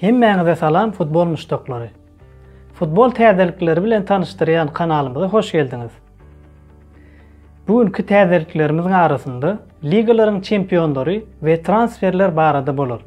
Hemmäňize salam futbol muşdaklary. Futbol täzelikleri bilen tanyşdyrýan kanalymyza hoş geldiňiz. Bu günki täzeliklerimiziň arasynda ligalaryň çempionlary we transferler barada bolar.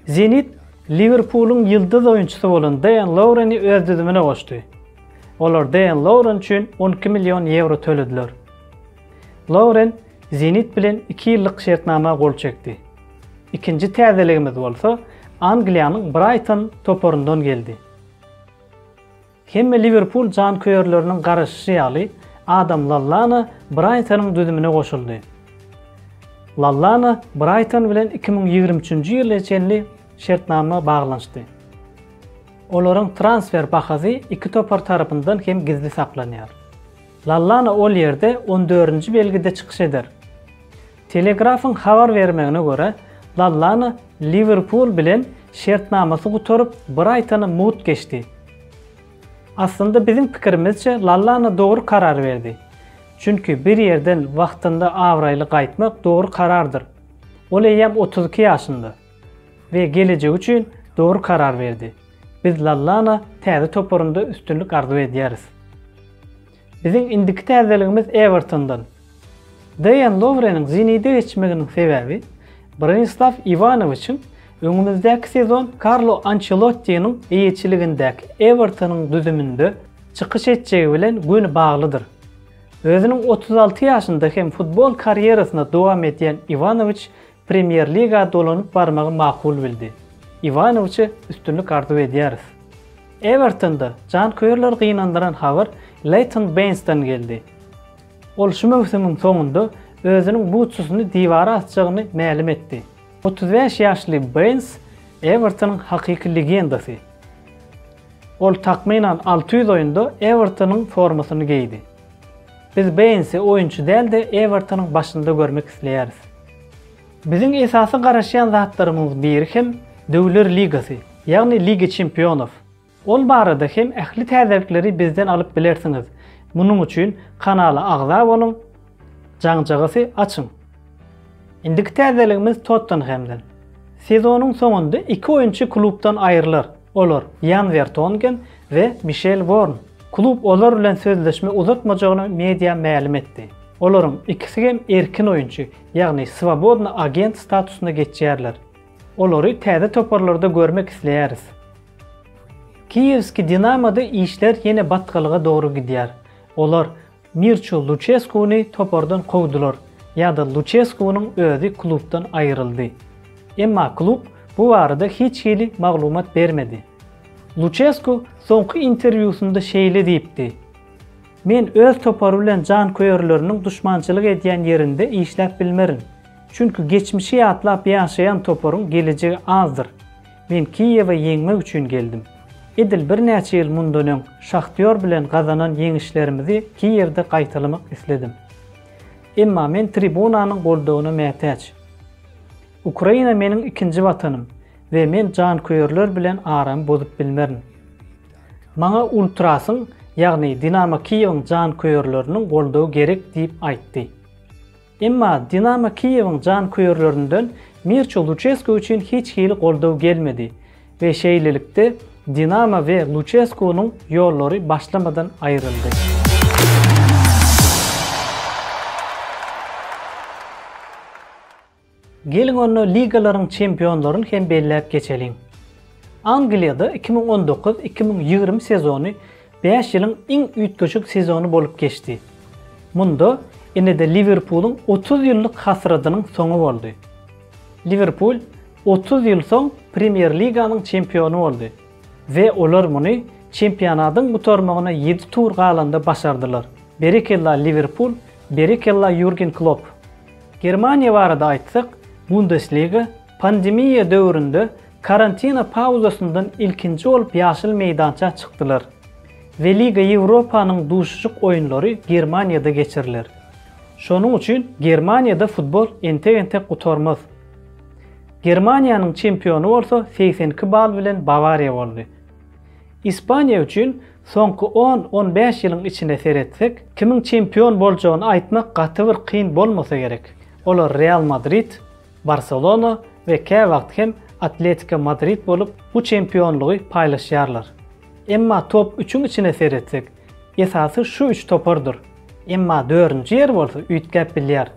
Zenit Liwerpulyň ýyldyz oýunçysy bolan Deýan Loureni öz düzümine goşdy. Olar Deýan Louren üçin on iki million ýewro tölediler. Louren Zenit bilen iki ýyllyk şertnama gol çekdi. Ikinji täzeligimiz bolsa Angliýanyň Braýton toparyndan geldi. Hemme Liwerpul janköýerleriniň garaşyşy ýaly, Adam Lallana Braýtonyň düzümine goşuldy. Lallana Braýton bilen iki müň ýigrimi üçünji ýyla çenli şertnama baglanyşdy. Olaryň transfer bahasy iki topar tarapyndan hem gizli saklanýar. Lallana ol ýerde on dördünji belgide çykyş eder. Telegraph-yň habar bermegine görä, Lallana Liwerpul bilen şertnamasy gutaryp Braýtona mugt geçdi. Aslynda biziň pikirimizçe Lallana dogry karar berdi. Çünki bir ýerden wagtynda abraýly gaýtmak dogry karardyr. Ol eýýäm otuz iki ýaşynda we gelejegi üçin dogry karar berdi. Biz Lallana täze toparynda üstünlik arzuw edýäris. Biziň indiki täzeligimiz Ewertondan. Deýan Lowreniň Zenide geçmeginiň sebäbi Bronislaw Iwanowiçiň öňümizdäki sezon Karlo Ançelottiniň eýeçiligindäki Ewertonyň düzüminde çykyş etjegi bilen göni baglydyr. Özüniň otuz alty ýaşynda hem futbol karýerasyny dowam edýän Iwanowiç Premýer Liga dolanyp barmagy makul bildi. Iwanowiçe üstünlik arzuw edýäris. Ewertonda janköýerleri gynandyran habar Leýton Beýnsden geldi. Ol şu möwsümiň soňunda özüniň butsusyny diwara asjagyny mälim etdi. Otuz bäş ýaşly Beýns Ewertonyň hakyky legendasy. Ol takmynan alty ýüz oýunda Ewertonyň formasyny geýdi. Biz Beýnsi oýunçy däl-de, Ewertonyň başynda görmek isleýäris. Biziň esasy garaşýan zatlarymyzyň biri hem Döwler ligasy, ýagny Liga çempionow. Ol barada hem ähli täzelikleri bizden alyp bilersiňiz. Munuň üçin kanala agza boluň, jaňjagasy açyň. Indiki täzeligimiz Tottenhemden. Sezonyň soňunda iki oýunçy klubdan aýrylar, olar Ýan Wertongen we Mişel Worn. Klub olar bilen sözleşme uzatmajagyny media mälim etdi. Olaryň ikisi hem erkin oýunçy, ýagny swobodny agent statusyna geçýärler. Olary täze toparlarda görmek isleýäris. Kiýewski Dinamo-da işler ýene batgalyga dogry gidýär. Olar Mirço Luçeskuny topardan kowdular ýa-da Luçeskunyň özi klubdan aýryldy. Emma klub bu barada hiç hili maglumat bermedi. Luçesku soňky interwýusynda şeýle diýipdi, Men öz topary bilen janköýerleriniň duşmançylyk edýän ýerinde işläp bilmerin. Çünki geçmişi ýatlap ýaşaýan toparyň gelejegi azdyr. Men Kiýewe ýeňmek üçin geldim. Edil birnäçe ýyl mundan öň Şahtýor bilen gazanan ýeňişlerimizi Kiýewde gaýtalamak isledim. Emma men tribunanyň goldawyna mätäç. Ukraina meniň ikinji watanym we men janköýerler bilen aramy bozup bilmerin. Maňa Ultrasyň, ýagny Dinamo Kiýewiň janköýerleriniň goldawy gerek diýip aýtdy. Emma Dinamo Kiýewiň janköýerlerinden Mirço Luçesko üçin hiç hili goldaw gelmedi we şeýlelikde Dinamo we Luçeskonyň ýollary başlamadan aýryldy. Geliň onda ligalaryň çempionlaryny hem belläp geçeliň. Angliýada iki müň on dokuz, iki müň ýigrimi sezony Bäş ýylyň iň üýtgeşik sezony bolup geçdi. Munda ine-de Liwerpulyň otuz ýyllyk hasradynyň soňy boldy. Liwerpul otuz ýyl soň Premýer-liganyň çempiony boldy we olar muny çempionatyň gutarmagyna ýedi tur galanda başardylar. Berekella Liwerpul, berekella Ýurgen Klopp! Germaniýa barada aýtsak, Bundesliga Pandemiýa döwründe karantina pauzasyndan ilkinji bolup ýaşyl meýdança çykdylar. Weliga Ýewropanyň duşuşyk oýunlary Germaniýada geçiriler. Şonuň üçin Germaniýada futbol entek-entek gutarmaz. Germaniýanyň çempiony bolsa segsen iki bal bilen Bawariýa boldy. Ispaniýa üçin soňky on-on bäş ýylyň içine seretsek, kimiň çempion boljagyny aýtmak gaty bir kyn bolmasa gerek. Olar Real Madrid, Barselona we käwagt hem Atletiko Madrid bolup bu çempionlygy paýlaşýarlar. Emma top üçüň içine seretsek, esasy şu üç topardyr, emma dördünji ýer bolsa üýtgäp bilýär.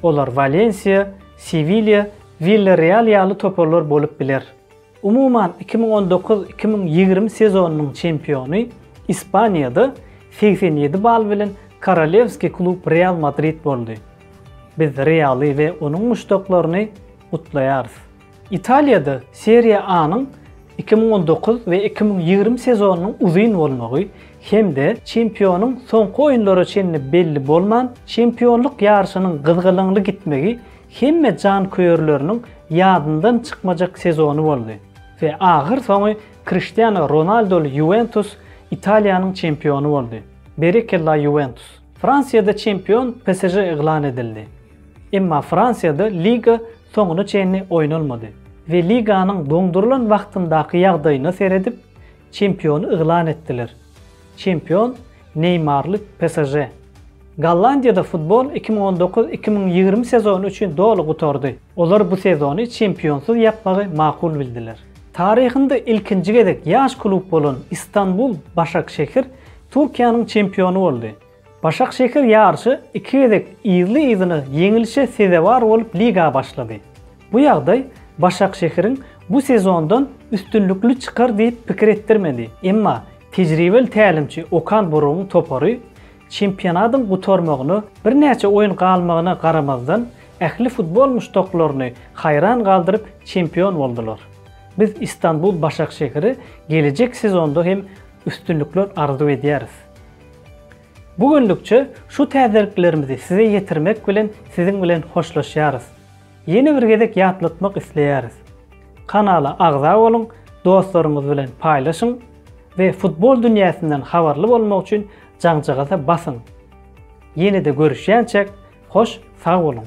Olar Walensiýa, Sewilýa, Willereal ýaly toparlar bolup biler. Umuman, iki müň on dokuz, iki müň ýigrimi sezonynyň çempiony Ispaniýada segsen ýedi bal bilen Korolewskiý klub Real Madrid boldy. Biz Realy we onuň muşdaklaryny gutlaýarys. Italiýada Serie A-nyň iki müň on dokuz we iki müň ýigrimi sezonynyň uzyn bolmagy hem-de çempionyň soňky oýunlara çenli belli bolman, çempionlyk ýaryşynyň gyzgalaňly gitmegi hemme janköýerleriniň ýadyndan çykmajak sezony boldy we ahyr soňy Kriştiano Ronaldoly Ýuwentus Italiýanyň çempiony boldy. Berekella Ýuwentus! Fransiýada çempion PSŽ yglan edildi. Emma Fransiýada liga soňuna çenli oýnalmady we liganyň doňdurylan wagtyndaky ýagdaýyna seredip, Çempiony yglan etdiler. Çempion neýmarly PSŽ. Gollandiýada futbol iki müň on dokuz iki müň ýigrimi sezony üçin doly gutardy. Olar bu sezony çempionsyz ýapmagy makul bildiler. Taryhynda ilkinji gezek ýaş klub bolan Istanbul Başakşehir Türkiýäniň çempiony boldy. Başakşehir ýaryşy iki gezek yzly-yzyna ýeňilişe sezewar bolup liga başlady. Bu ýagdaý Başakşehiriň bu sezondan üstünlikli çykar diýip pikir etdirmedi, emma tejribeli tälimçi Okan Burugyň topary çempionatyň gutarmagyna birnäçe oýun galmagyna garamazdan, ähli futbol muşdaklaryny haýran galdyryp çempion boldular. Biz Istanbul Başakşehire gelejek sezonda hem üstünlikler arzuw edýäris. Bu günlükçe şu täzeliklerimizi size ýetirmek bilen siziň bilen hoşlaşýarys. Ýene bir gezek ýatlatmak isleýäris. Kanala agza boluň, dostlaryňyz bilen paýlaşyň we futbol dünýäsinden habarly bolmak üçin jaňjagaza basyň. Ýene-de görüşýänçäk, hoş sag boluň!